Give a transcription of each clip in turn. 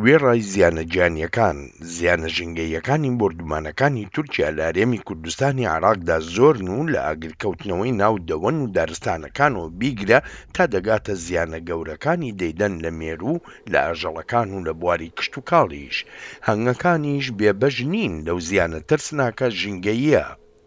وێڕای زیانە گیانییەکان، زیانە ژینگەییەکانی بۆردومانەکانی تورکیا لە هەرێمی کوردستانی عێراقدا زۆرن و لە ئاگرکەوتنەوەی ناو دەوەن و دارستانەکانەوە بیگرە تا دەگاتە زیانە گەورەکانی دەیدەن لە مێروو و لە ئاژەڵەکان و لە بواری کشتوکاڵیش هەنگەکانیش بێبەش نین لەو زیانە ترسناکە ژینگەییە.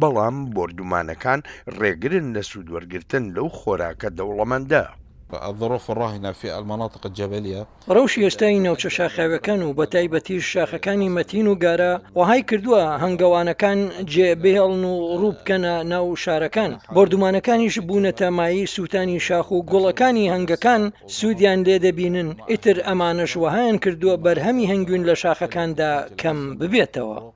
بەڵام بۆردومانەکان ڕێگرن لە سوودوەرگرتن لەو خۆراکە دەوڵەمەندە. الظروف الراهنە فی المناطق الجبلیە. ڕەوشی ئێستای ناوچە شاخاویەکان و بەتایبەتیش شاخەکانی مەتین و گارە وەهای کردووە هەنگەوانەکان جێ بهێڵن و ڕوو بکەنە ناو شارەکان، بۆردومانەکانیش بوونەتە مایەی سووتانی شاخ و گوڵەکانی هەنگەکان سوودیان لێ دەبینن، ئیتر ئەمانەش وەهایان کردووە بەرهەمی هەنگوین لە شاخەکاندا کەم ببێتەوە.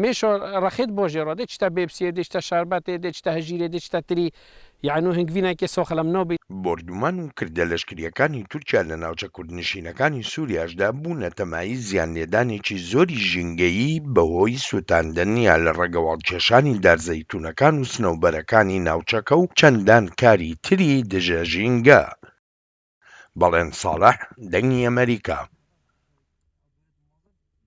مێشۆ ڕەخت بۆ ژێڕۆ دێ چتە بێبسیێ دێ چتە شەربەتێ دێ چتە هەژیرێ دێ چتە تری یانوو هنگڤینای کێ سۆخە لەم نۆ بی. بۆردومان و کردە لەشکریەکانی تورکیا لە ناوچە کوردنشینەکانی سوریاشدا بوونە تەمای زیان لێدانێکی زۆری ژینگەیی بەهۆی سوتاندن یا لە ڕەگەواڵ کێشانی دار زەیتونەکان و سنەوبەرەکانی ناوچەکە و چەندان کاری تری دژە ژینگە. بەڵێن ساڵح، دەنگی ئەمەریکا.